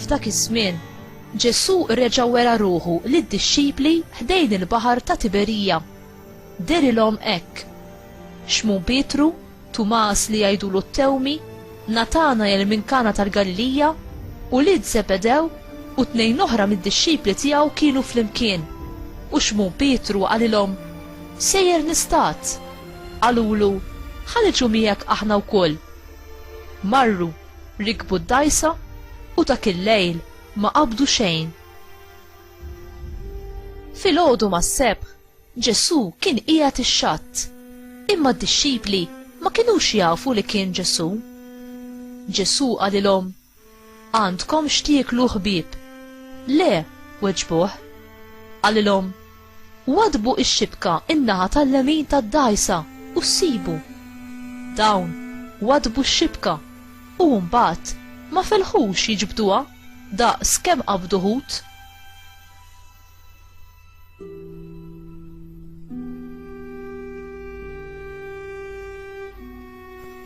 F'dak iż-żmien, Ġesù reġa' wera ruħu lid-dixxipli ħdejn il-baħar ta' Tiberija. Derilhom hekk. Xmun Pietru, Tumas li jgħidulu t-Tewmi, Natanael minn Kana tal-Galilija, ulied Żebedew u tnejn oħra mid-dixxipli tiegħu kienu flimkien. U Xmun Pietru qalilhom, Sejjer nistad! Qalulu, Ħa niġu miegħek aħna wkoll. Marru, rikbu d-dgħajsa u dak il-lejl ma qabdu xejn. Filgħodu mas-Sebħ, Ġesù kien qiegħed ix-xatt, imma d-dixxipli ma kinux jafu li kien Ġesù. Ġesù qalilhom, Għandkom x'tieklu ħbieb? Le, weġbuh. Qalilhom, Waddbu x-xibka n-naħa tal-lemin tad-dgħajsa u ssibu. Dawn waddbu x-xibka u mbagħad ma felħux jiġbduha daqs kemm qabdu ħut.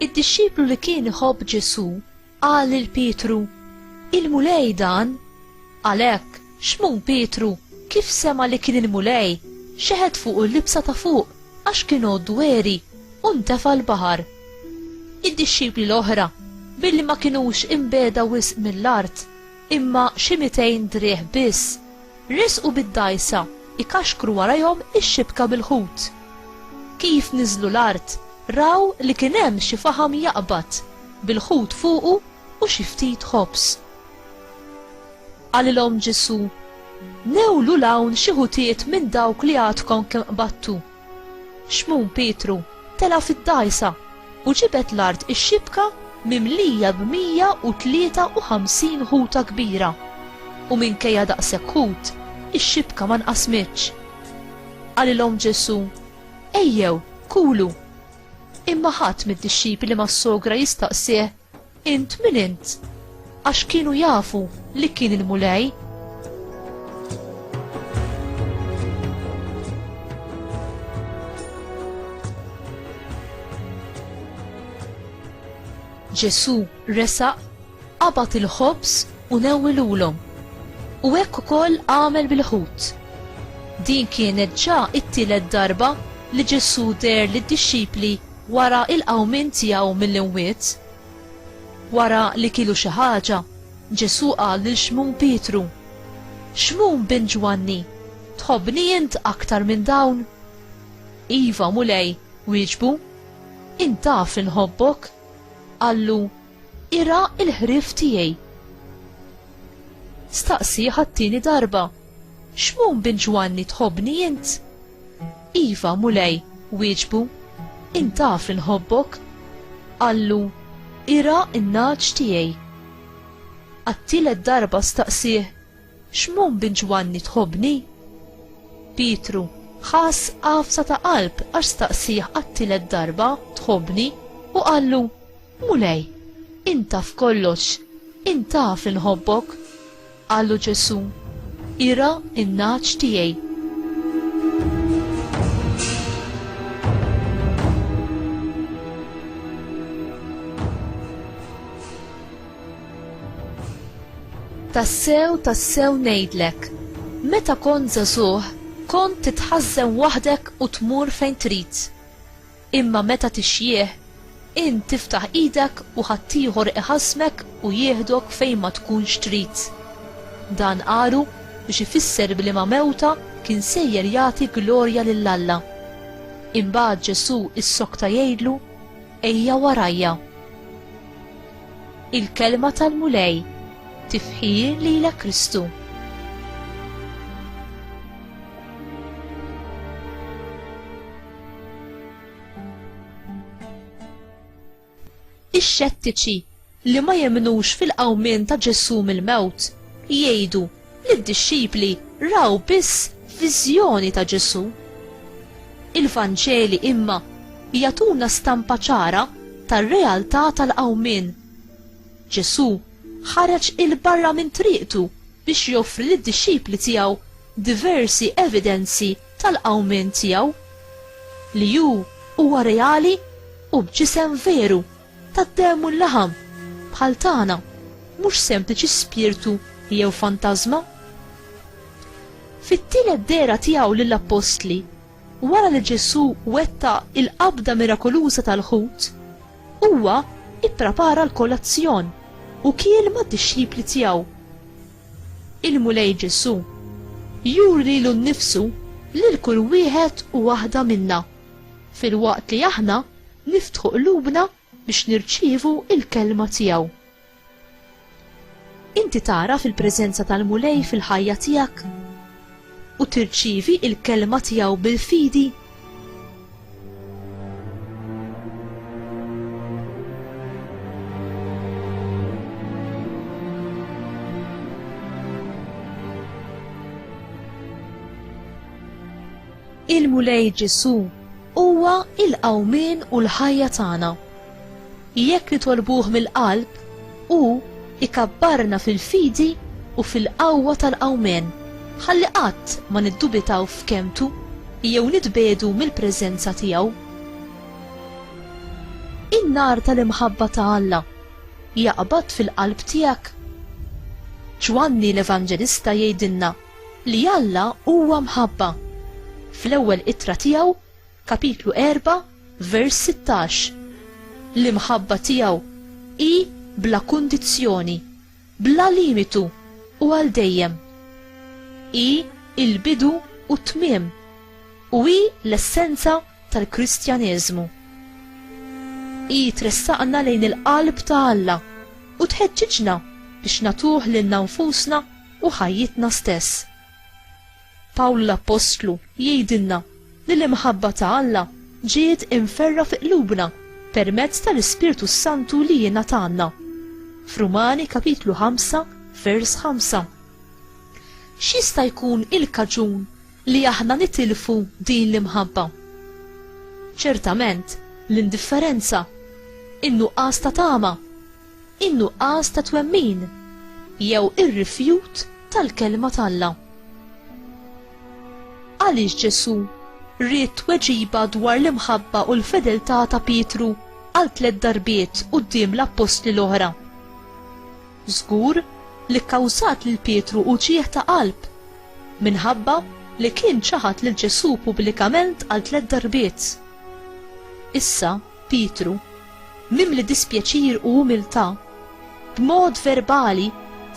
Id-dixxiplu li kien iħobb Ġesù qal lil Pietru, Il-Mulej dan? Għalhekk, xmun Pietru, kif sema li kien il-Mulej, xeħet fuq il-libsa ta' fuq għax kien għoddu għeri u ntefa' l-baħar. Id-dixxipli l-oħra, billi ma kinux imbeda wisq mill-art, imma xi mitejn driegħ biss, resqu bid-dgħajsa jkaxkru warajhom ix-xibka bil-ħut. Kif niżlu l-art, raw li kien hemm xi faħam jaqbad, bil-ħut fuqu u xi ftit ħobż. Qalilhom Ġesù, Newlu 'l hawn xi ħutiet minn dawk li għadkom kemm qbadtu. Xmun Pietru tela' fid-dgħajsa u ġibed l-art ix-xibka mimlija b'mija u tlieta u ħamsin ħuta kbira, u minkejja daqshekk ħut, ix-xibka ma nqasmitx. Qalilhom Ġesù, Ejjew, kulu. Imma ħadd mid-dixxipli mas-sogra jistaqsih, Int min int? Għax kienu jafu li kien il-Mulej. Ġesu resaq, qabat il-ħobż u newwilulhom. U hekk ukoll għamel bil-ħut. Din kienet ġa it-tielet darba li Ġesu der lid-dixxipli Wara l-qawmien tiegħu mill-imwiet, wara li kielu xi ħaġa, Ġesù qal lil Xmun Pietru, Xmun bin Ġwanni, tħobbni int aktar minn dawn? Iva, Mulej, wieġbu, int taf li nħobbok. Qallu, Irgħa l-ħrief tiegħi. Staqsieh għat-tieni darba, Xmun bin Ġwanni tħobbni int? Iva, Mulej, wieġbu, int taf li nħobbok. Qallu, Irgħa n-nagħaġ tiegħi. Għat-tielet darba staqsieh, Xmun bin Ġwanni tħobbni? Pietru ħass għafsa ta' qalb għax staqsieh għat-tielet darba, Tħobbni? u qallu, Mulej, inta f'kollox, inta f'inħobbok. Qallu Ġesu, ira in-naċ tiegħi. Tassew, tassew ngħidlek, meta kont żagħżugħ kont titħażżen waħdek u tmur fejn trid. Imma meta tixjieħ, int tiftaħ idek u ħaddieħor iħassmek u jieħdok fejn ma tkunx trid. Dan qalu biex ifisser b'liema mewta kien sejjer jagħti glorja lil Alla. Imbagħad Ġesù issokta jgħidlu, Ejja warajja. Il-kelma tal-Mulej, tifħir lilek Kristu. Ix-xettiċi li ma jemnux fil-qawmien ta' Ġesù mill-mewt jgħidu li d-dixxipli raw biss viżjoni ta' Ġesù. Il-Vanġeli imma jagħtuna stampa ċara tar-realtà tal-qawmien. Ġesù ħareġ 'il barra minn triqtu biex joffri lid-dixxipli tiegħu diversi evidenzi tal-qawmien tiegħu, li hu huwa reali u b'ġisem veru tad-demm u l-laħam, bħal tagħna, mhux sempliċi spirtu jew fantażma. Fit-tielet dehra tiegħu lill-appostli, wara li Ġesù wettaq il-qabda mirakoluża tal-ħut, huwa ipprepara l-kolazzjon u kiel mad-dixxipli tiegħu. Il-Mulej Ġesù juri lilu nnifsu lil kull wieħed u waħda minna, filwaqt li aħna niftħu qlubna biex nirċievu l-kelma tiegħu. Inti tagħraf il-preżenza tal-Mulej fil-ħajja tiegħek? U tirċievi l-kelma tiegħu bil-fidi? Il-Mulej Ġesù huwa l-qawmien u l-ħajja tagħna. Jekk nitolbuh mill-qalb, hu ikabbarna fil-fidi u fil-qawwa tal-Qawmien, ħalli qatt ma niddubitaw f'kelmtu jew nitbiegħdu mill-preżenza tiegħu. In-nar tal-imħabba ta' Alla jaqbad fil-qalb tiegħek? Ġwanni l-Evanġelista jgħidilna li Alla huwa mħabba. Fl-ewwel ittra tiegħu, Kapitlu 4, vers 16. L-imħabba tiegħu hi bla kundizzjoni, bla limitu u għal dejjem. Hi il-bidu u t-tmiem u hi l-essenza tal-Kristjaneżmu. Hi tressaqna lejn il-qalb ta' Alla u tħeġġiġna biex natuh lilna nfusna u ħajjitna stess. Pawl l-appostlu jgħidilna li l-imħabba ta' Alla ġiet imferra fi qlubna permezz tal-Ispirtu s-Santu li jingħatalna. F'Rumani kapitlu 5 vers 5. X'jista' jkun il-kaġun li aħna nitilfu din l-imħabba? Ċertament, l-indifferenza, in-nuqqas ta' tama, in-nuqqas ta' twemmin jew ir-rifjut tal-kelma t'Alla. Għaliex Ġesù ried tweġiba dwar l-imħabba u l-fedeltà ta' Pietru għal tliet darbiet quddiem l-appostli l-oħra? Żgur li kkawżat lil Pietru uġigħ ta' qalb minħabba li kien ċaħad lil Ġesù pubblikament għal tliet darbiet. Issa, Pietru, mimli dispjaċir u umiltà, b'mod verbali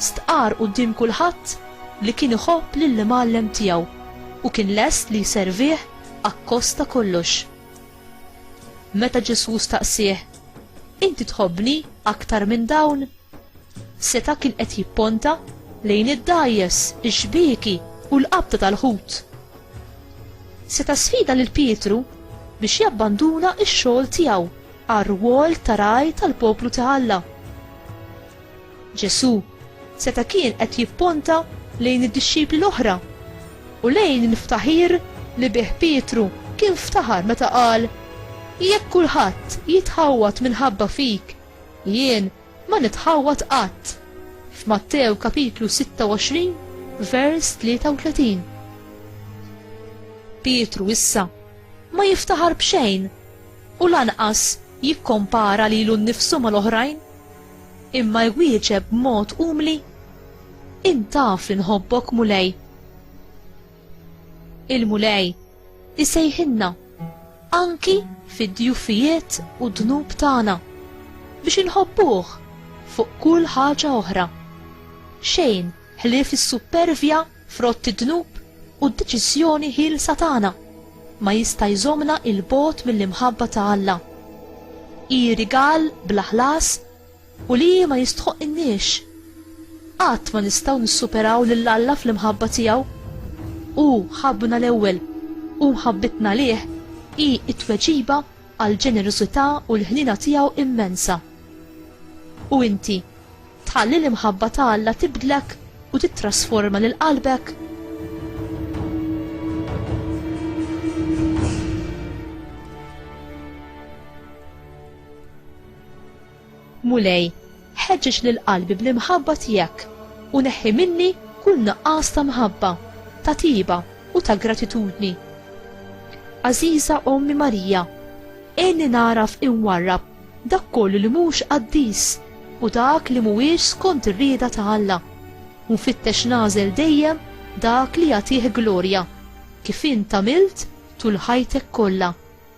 stqarr quddiem kulħadd li kien iħobb lill-Imgħallem tiegħu u kien lest li jservih akkost ta' kollox. Meta Ġesù staqsieh, Inti tħobbni aktar minn dawn? Seta' kien qed jipponta lejn id-dgħajjes, ix-xbieki u l-qabda tal-ħut. Seta' sfida lil Pietru biex jabbanduna x-xogħol tiegħu għar-rwol ta' raj tal-poplu ta' Alla. Ġesù seta' kien qed jipponta lejn id-dixxipli l-oħra u lejn il-ftaħir li bih Pietru kien ftaħar meta qal, Jekk kulħadd jitħawwad minħabba fik, jien Ma nitħawwad qatt. F'Mattew kapitlu 26 vers 33. Pietru issa ma jiftaħar b'xejn u lanqas jikkompara lilu nnifsu mal-oħrajn, imma jwieġeb b'mod umli, Intaf li nħobbok Mulej. Il-Mulej Isejħinna anki fid-djufijiet u dnub tagħna biex inħobbuh fuq kull ħaġa oħra. Xejn ħlief is-suppervja frott id-dnub u d-deċiżjoni ħielsa tagħna ma jista' jżommna il bogħod mill-imħabba ta' Alla. Hi rigal bla ħlas u li hi ma jistħoqqinniex. Qatt ma nistgħu nissuperaw lil Alla fl-imħabba tiegħu. Hu ħabbna l-ewwel, u mħabbitna għalih hi t-tweġiba għall-ġenerożità u l-ħniena tiegħu immensa. U inti, tħalli l-imħabba ta' Alla tibdlek u tittrasforma lil qalbek? Mulej, ħeġġeġ lil qalbi bl-imħabba tiegħek u neħħi minni kull nuqqas ta' mħabba, ta' tjieba u ta' gratitudni. Għażiża Ommi Marija, għinni nagħraf inwarrab dak kollu li mhux qaddis u dak li mhuwiex skont ir-rieda ta' Alla, u nfittex nagħżel dejjem dak li jagħtih glorja, kif int għamilt tul ħajtek kollha.